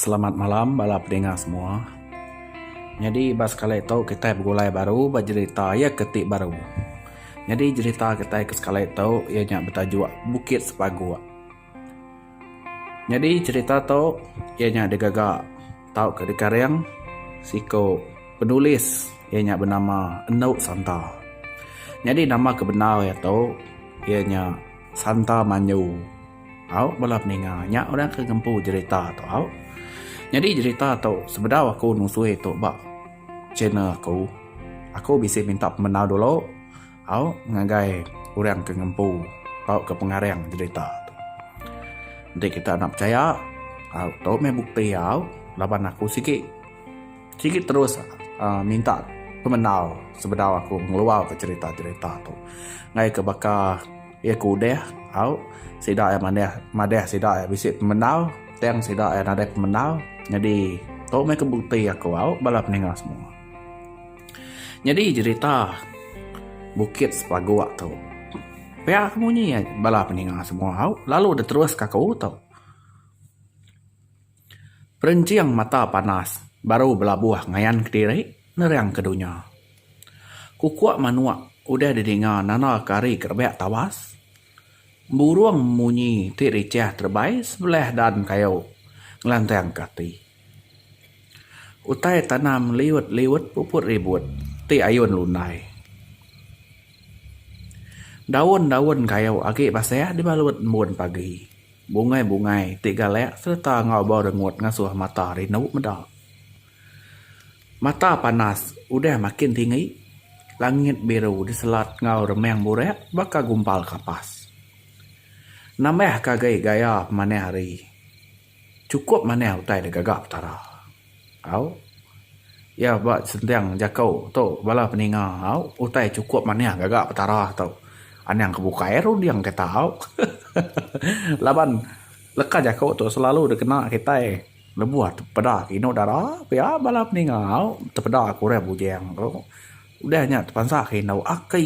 Selamat malam bala pedinga semua. Nyadi ba sekali tu kitai begulai baru ba jerita iya ke ti baru. Nyadi jerita kitai ke sekali tu iya nya betajuk Bukit Sepagok. Nyadi jerita tu iya nya digaga tauka dikareng siku penulis iya nya benama Endu Santa. Nyadi nama ke bendar iya tu iya nya Santa Manyu. Au bala peninga nya orang ke ngempu jerita tu au. Nyadi jerita tu sebedau aku nusui tu ba channel aku. Aku bisi minta pemendar dulu au ngagai orang ke ngempu tauka pengarang jerita tu. Enti kita enda pechaya au tu meh bukti au laban aku sigi sigi terus aaa minta pemendar sebedau aku ngeluarka jerita-jerita tu ngaika baka Iya ke udah au sida iya manah madah sida iya bisi pemendar tang sida iya nadai pemendar nyadi tu meh ke bukti aku au bala peninga semua. Nyadi jerita bukit sepagok tu pia ke munyi bala peninga semua au lalu diterus ka aku tu. Perinching mata panas baru belabuh ngayan kediri nerang ke dunya. Kukuk manuk udah didinga nanda ke hari ke rebak tawas. Burung munyi ti richah terebai sebelah dan kayu ngelantang ke ati. Utai tanam liut-liut puput ribut ti ayun lundai. Daun-daun kayu agi basah dibalut embun pagi. Bungai-bungai ti galak sereta enggau bau rengut ngasuh mata rindu meda. Mata panas udah makin tinggi, langit biru diselat enggau remang burak baka gumpal kapas. Nambahka agi gaya pemanah hari, chukup manah utai digaga Petara. Au. Iya ba sentiang jako tu bala peninga au utai chukup manih gaga petara tu. Anang ke bukai runding kita au. Laban leka jako tu selalu dikena kitai lebuh peda ke inu dara pia bala peninga au tepeda ke orang bujang tu udah nya tepansa ke inu aki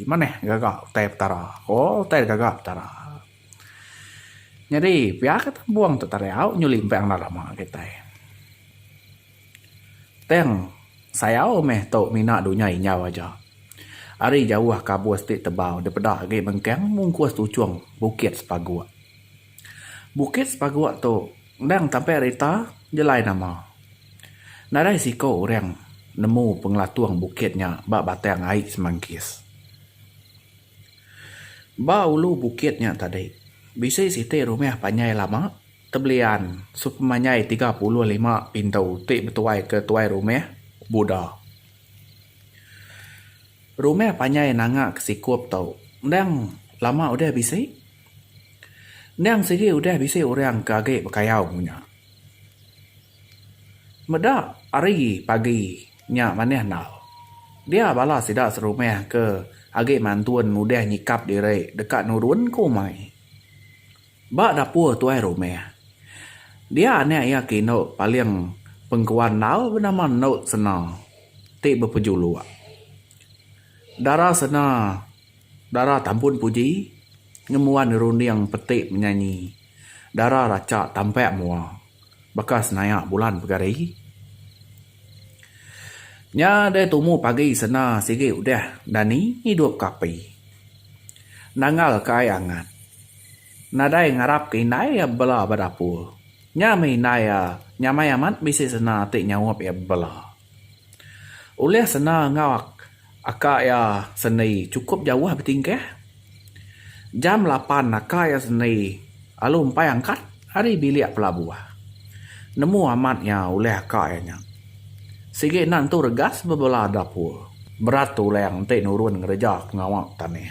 manih gaga utai petara. Ko utai gaga petara. Nyadi, pia ke tambung tu tadi au nyuli empai anak lama kitai. Tang sayau meh tu mina dunya injau aja. Ari jauh kabus ti tebau dipeda agi bengkang mungkus tuchung Bukit Sepaguk. Bukit Sepaguk tu endang tampi ari ita jelai nama. Nadai siko orang nemu pengelatung bukit nya ba Batang Ai Semangkis. Ba ulu bukit nya tadi, bisi siti rumah panjai lama, tebelian sepemanjai tiga puluh lima pintu ti betuaika tuai rumah, Buda. Rumah panjai nanga ke sikup tu endang lama udah bisi. Endang sigi udah bisi orang ke agi bekayau nya. Meda hari pagi. Nya manih endau. Dia bala sida serumah ke agi mantun udah nyikap diri deka nurun ke umai. Ba dapur tuai rumah. Dia anak iya ke indu paling pengkuan endau benama Endu Sena ti bepejuluk. Dara Sena dara tampun puji ngembuan runding peti menyanyi dara racha tampak mua. Baka senayak bulan pegari. Nya deh tumu pagi sena sigi udah dani ngidup ke api. Nanggal ke ai angat. Nadai ngarap ke indai iya bela ba dapur. Nya meh indai iya nyamai amat bisi sena ti nyaup iya bela. Ulih sena enggau. Aka iya seni chukup jauh betingkah. Jam lapan aka iya seni lalu empai angkat ari bilik pelabuh. Nemu amat iya ulih aka iya nya. Sigi enda nentu regas bebela dapur. Berat tulang enti nurun ngereja pengawa tanih.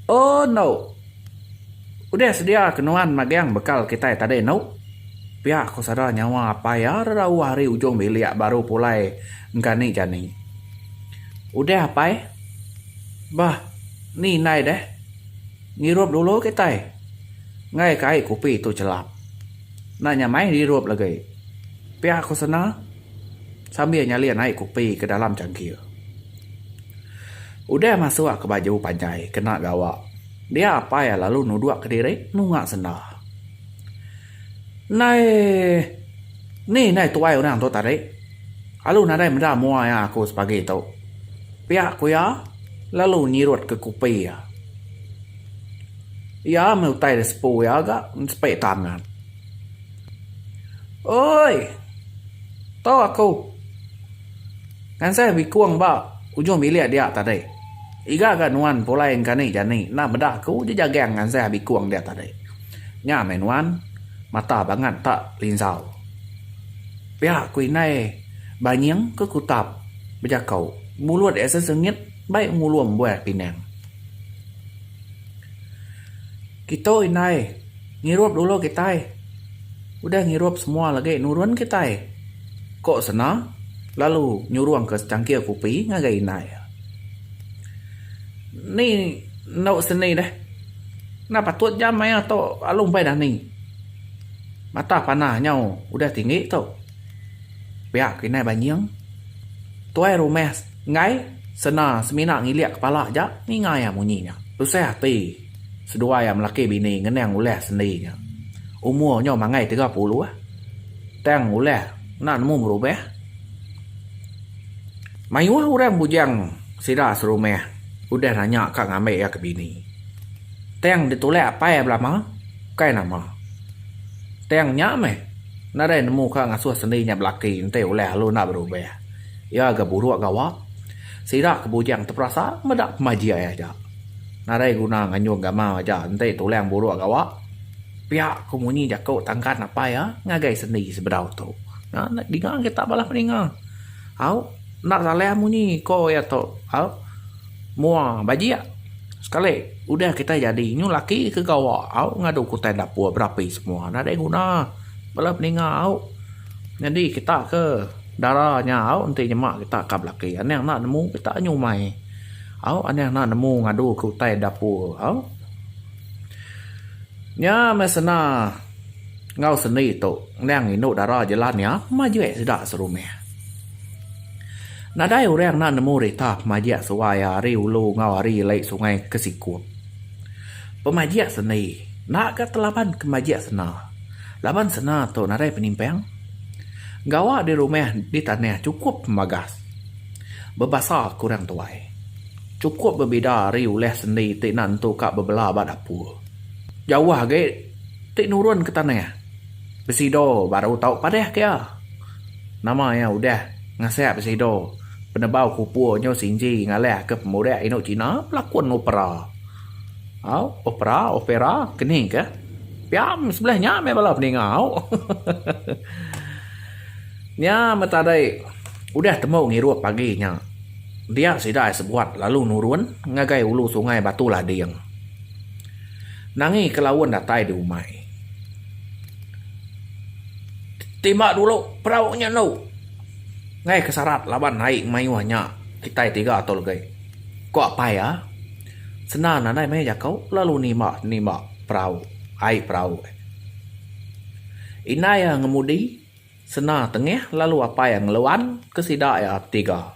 Oh enu. Udah sedia ke nuan magang bekal kitai tadi enu? Pia ku sada nyawa apai iya rerauh ari ujung bilik baru pulai Engkani jani. Udah apai. Bah ni indai deh. Ngirup dulu kitai. Enggai ke ai kopi tu chelap. Enda nyamai dirup legi. Pia ku Sena sambil nyalin ai kopi ke dalam changkir. Udah masuk ke baju panjai kena gawa. Dia apai lalu nuduk kediri nunga senda. Nai ni nai tuai orang tu tadi alu nadai meda mua iya aku sepagi tu pia ku iya lalu nyirut ke kupi iya iya meh utai da sepu iya ga sepe tangan oi tau aku ngansai bikung ba ujung bilik dia tadi iga ga nuan pulai engka ni jani enda meda aku ji jagang ngansai bikung dia tadi. Nya meh nuan, mata bangat tak linzau. Pia ku indai banying ke kutap bejakau mulut ia sesengit baik ngulum buah pinang. Kitu indai ngirup dulu kitai udah ngirup semua lagi nurun kitai, ku Sena lalu nyurungka secangkir kupi ngagai indai. Ni enda seni deh. Enda patut jam maioh tu lalu umbai dani. Mata panah nyau udah tinggi tu. Pia ke inai banying. Tuai rumah enggai sena semina ngilik kepala aja ninga iya munyi nya. Tusah ati seduai iya melaki bini ngenang ulah sendi nya. Umur nyo mangai tiga puluh tang ulah enda nemu berubah. Mayuh orang bujang sida serumah udah nanya ka ngambi iya ke bini. Tang ditulak apai belama bukai nama. Tang nya meh nadai nemu ka ngasuh sendi nya belaki enti ulah lalu enda berubah. Iya ga buruk gawa. Sida ke bujang teperasa meda pemajik iya aja. Nadai guna nganjung gamal aja enti tulang buruk gawa. Pia ku munyi jaku tangkan apai iya ngagai sendi sebedau tu. Nya dinga kita balah peninga. Au, enda salah munyi ko iya tu. Au, mua bajik sekali udah kitai jadi nyu laki ke gawa au ngadu kutai dapur berapi semua nadai guna bala peninga au. Nyadi kita ke dara nya au enti nyema kita ka belaki anang enda nemu kita nyu umai. Au anang enda nemu ngadu ke utai dapur au. Nya meh sena. Enggau sendi tu endang indu dara jelan iya majik sida serumah. Nadai orang enda nemu rita pemajik suai iya ari ulu enggau ari ili sungai ke sikup. Pemajik sendi enda ga telaban ke majik sena laban sena tu nadai penimpang. Gawa di rumah di tanah chukup pembagas. Bebasa ke orang tuai chukup bebida ari ulah sendi ti enda nentu ka bebela ba dapur. Jauh agi. ti nurun ke tanah besido baru tau padah ke iya. Nama iya udah ngasak besido penebau kupur nyo Sinji ngalih ke pemudak indu China pelakun opera. Au opera opera keni ke pia sebelah nya meh bala peninga au. Nya meh tadi udah tembu ngirup pagi nya dia sida sebuat lalu nurun ngagai ulu sungai Batu Lading. Nangi ke laun datai di umai. Timba dulu perau nya enu. Ngaih ke sarat laban ai mayuh nya kitai tiga tu legi. Ko apai iya. Sendar nadai maya jako lalu nimba nimba perau ai perau. Indai iya ngemudi sendar tengih lalu apai iya ngeluan ke sida iya betiga.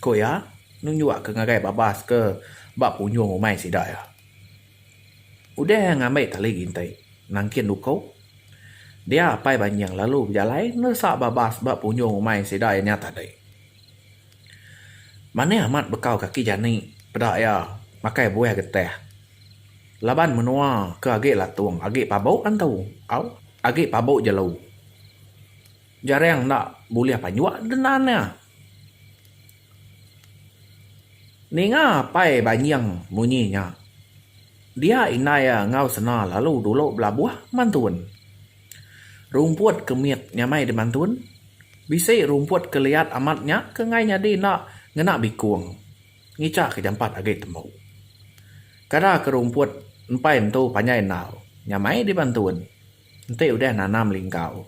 Ku iya, nunjukka ngagai babas ke ba punjung rumai sida iya. Udah iya ngambi tali ginting nangkin duku, dia Apai Banjing lalu bejalai neresa babas ba punjung rumai sida iya nya tadi. Manih amat bekau kaki jani peda iya makai buah getah laban menua ke agi latung agi pabu antu au agi pabu jelu. Jarang enda bulih panjuk denan iya. Ninga apai Banying munyi nya, dia indai iya enggau sena lalu dulu belabuh mantun. Rumput ke mit nyamai di mantun, bisi rumput ke liat amat nya ke enggai nyadi enda ngena bikung ngicha ke jampat agi tembu. Kada ke rumput empai entu panjai endau nyamai di mantun. Enti udah nanam linggau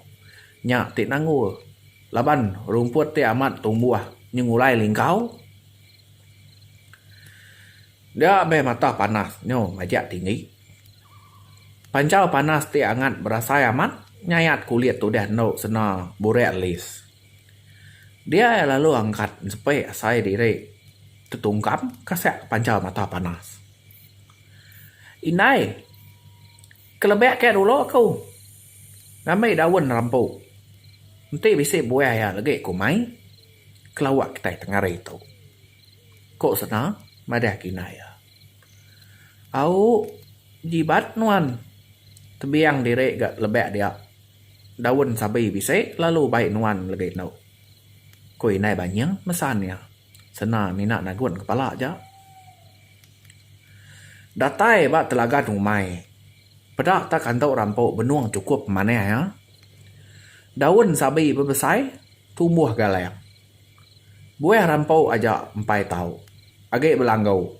nya ti nanggul laban rumput ti amat tumbuh nyengulai linggau dia meh matah panas nyu majak tinggi. Panjau panas ti angat berasai amat nyayat kulit ti udah endu sena burak alis. Dia iya lalu angkat sepe asai diri tetungkam kasek panjau matah panas. Indai. Kelebih ke dulu aku ngambi daun rambu enti bisi buah iya lagi ku mai kelawa kitai tengah hari tu ku sena madah kina iya. Au jibat nuan tebiang diri ga lebih dia daun sabi bisi lalu bai nuan lagi anu ku indai banying mesan iya. Sena mina nagun kepala aja. Datai ba telaga numai. Peda ta kantu rampu benung chukup manah iya. Daun sabi bebesai tumbuh galang. Buah rampu aja empai tau. Agi belanggu.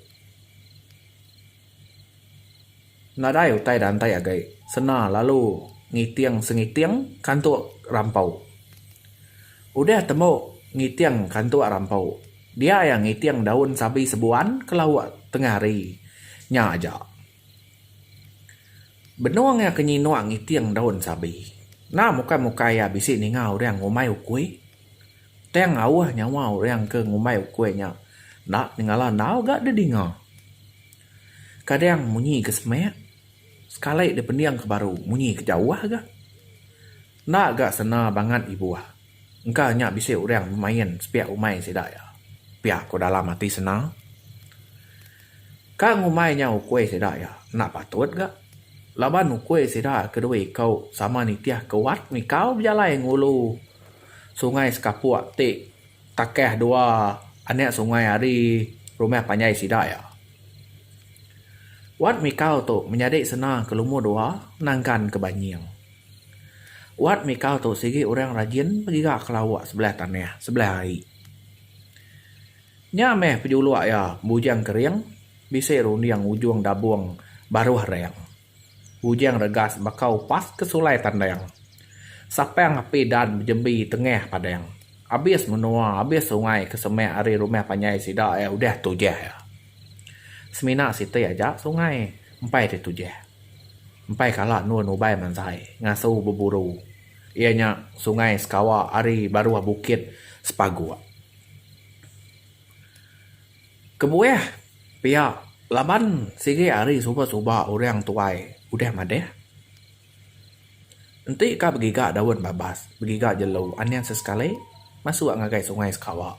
Nadai utai dantai agai sena lalu ngiting sengiting kantuk rampau. Udah tembu ngiting kantuk rampau, dia iya ngiting daun sabi sebuan ke lauk tengah hari nya aja. Benung iya ke nyinuk ngiting daun sabi, enda mukai-mukai iya bisi ninga orang ngumbai ukui. Tang auh nyawa orang ke ngumbai ukui nya enda nyengala enggau ga didinga. Kadang munyi ke semak, sekali dipending ke baru munyi ke jauh ga. Enda ga sena bangat ibuh engka nya bisi orang bemain sepiak umai sida iya, pia ku dalam ati sena. Ka ngumbai nya ukui sida iya enda patut ga laban ukui sida ke dua iku sama nitih ke wat mikau bejalai ngulu. Sungai Sekapuk ti takah dua anak sungai ari rumah panjai sida iya. Wat Mikau tu menyadi sena ke lumur dua Nangkan ke Banying. Wat Mikau tu sigi orang rajin begiga ke lauk sebelah tanah sebelah ai. Nya meh pejuluk iya Bujang Kering bisi runding ujung dabung Baruh Rang. Ujang regas baka upas ke sulai tandang. Sapang api dan bejembi tengah padang. Abis menua, abis sungai ke semak ari rumah panjai sida iya udah tujah iya. Semina siti aja sungai empai ti tujah. Empai kala endun ubai mansai ngasu beburu iya nya Sungai Sekawa ari baruh Bukit Sepaguk. Kebuah pia laban sigi hari suba suba orang tuai udah madah. Enti ka begiga daun babas begiga jelu anang sesekali masuk ngagai sungai sekawa.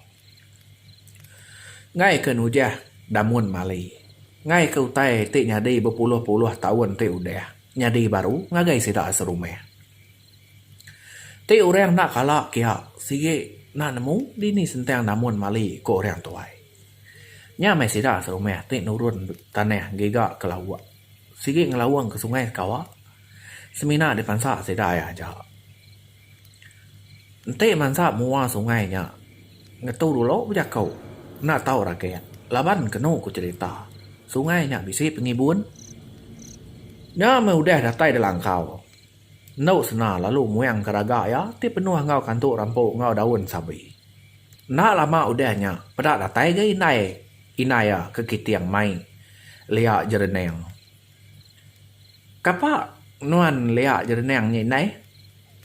Ngai ke nujah damun mali ngai ke utai ti nyadi bepuluh puluh taun ti udah nyadi baru ngagai sida serumah. Ti orang enda kala kia sigi enda nemu dini sentang namun mali ku orang tuai. Nya meh sida serumah ti nurun tanah giga ke lauk sigi ngelaung ke sungai sekawa semina dipansa sida iya aja. Enti mansa mua sungai nya ngetu dulu bejako enda tau ragit laban kenu ku cherita sungai nya bisi pengibun nya meh udah datai di langkau. Endu Sena lalu muang ke raga iya ti penuh enggau kantu rampu enggau daun sabi. Enda lama udah nya, peda datai ga indai indai iya ke kiting mai Lia Jerening. Kapa nuan Lia Jerening nya indai?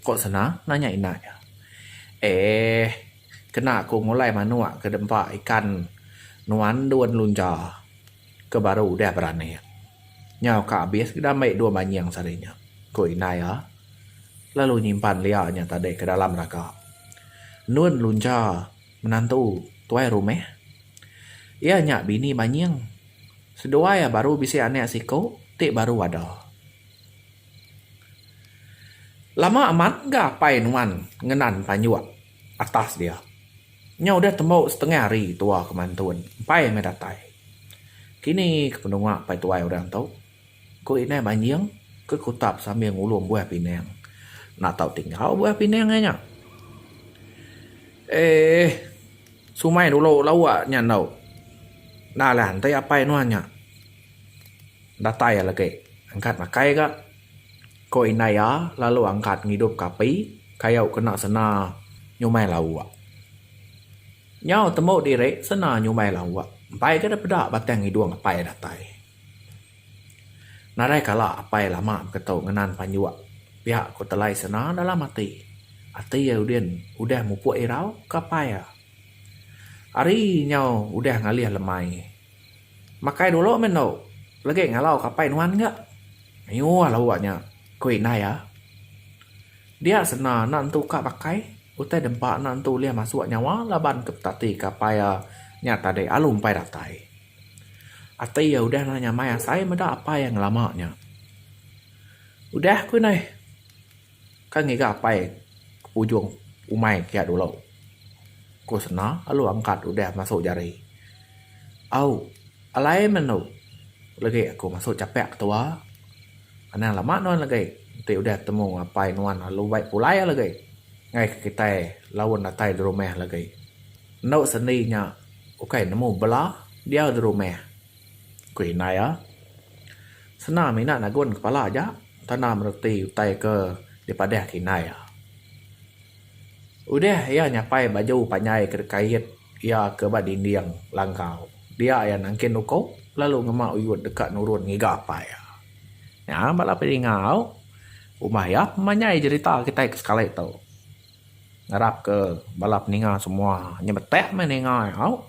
ko Sena nanya inda iya. Eeh, kena ku ngulai manuk ke dempa ikan nuan dun lunja. ke baru udah beranak. Nyau ka abis ke diambi dua manjing sehari nya, ku indai iya lalu nyimpan lia nya tadi ke dalam raga. Nun luncha menantu tuai rumah. Iya nya bini manjing. Seduai iya baru bisi anak siku ti baru ada. Lama amat ga apai nuan ngenan panjuk. atas dia. Nya udah tembu setengah hari tua ke mantun empai meh datai. Kini ke penua pai tuai orang tu? ku indai Manjing ke kutap sambil ngulum buah pinang. Enda tau tinggal buah pinang iya nya. Eeh. Sumai dulu lawa nya endo. Enda lah enti apai nuan nya datai lagi angkat makai ga. Ko indai iya lalu angkat ngidup ka api kayu kena sena nyumai lauk. Nyau tembu diri sena nyumai lauk empai ga da peda batang hidung apai datai. Nadai kala apai lama beketu ngenan panjuk pia ko telai sena dalam ati. Ati iya udin udah mupuk irau ka apai iya. Ari nyau udah ngalih lemai. Makai dulu meh endo. Legi ngalau ke apai nuan ga. Mayuh la uwa nya, ku indai iya. Dia sena anak entu ka pakai, utai dempa anak entu ulih masuk nyawa laban ke petati ke apai iya nya tadi alu empai datai. Ati iya udah enda nyamai asai meda apai iya ngelama nya. Udah, ku indai. Ka ngiga apai ke pujung umai kiya dulu. Ku sena alu angkat udah masu jari. Au, alai menu legi aku masu chapek ke tua. Anang lama nuan legi enti udah temu apai nuan alu bai pulai legi ngaika kitai laun datai dirumah legi. Enu sendi nya ukai nemu bela diau dirumah. Ku indai iya, Sena mina nagun kepala aja tanda mereti utai ke dipadahka indai iya. Udah iya nyapai baju panjai ke dikait iya ke ba dinding langkau, dia iya nangkin uko lalu ngema uyut deka nurun ngiga apai iya. Nya bala peningau rumah iya memanjai jerita kitai ke sekali tu. Ngarap ke bala peninga semua nya beteh meh ninga au.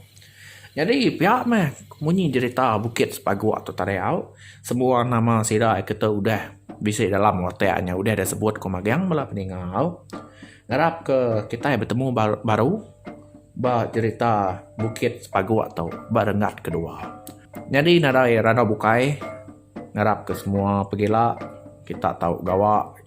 Nyadi pia meh munyi jerita Bukit Sepagok tu tadi au. Semua nama sida ke tu udah bisi dalam watak nya udah deh sebut ku magang bala peninga au. Ngarap ke kitai betemu baru ba jerita Bukit Sepagok tu ba renggat ke dua. Nyadi nadai randau bukai ngarap ke semua pegila kita tau gawa.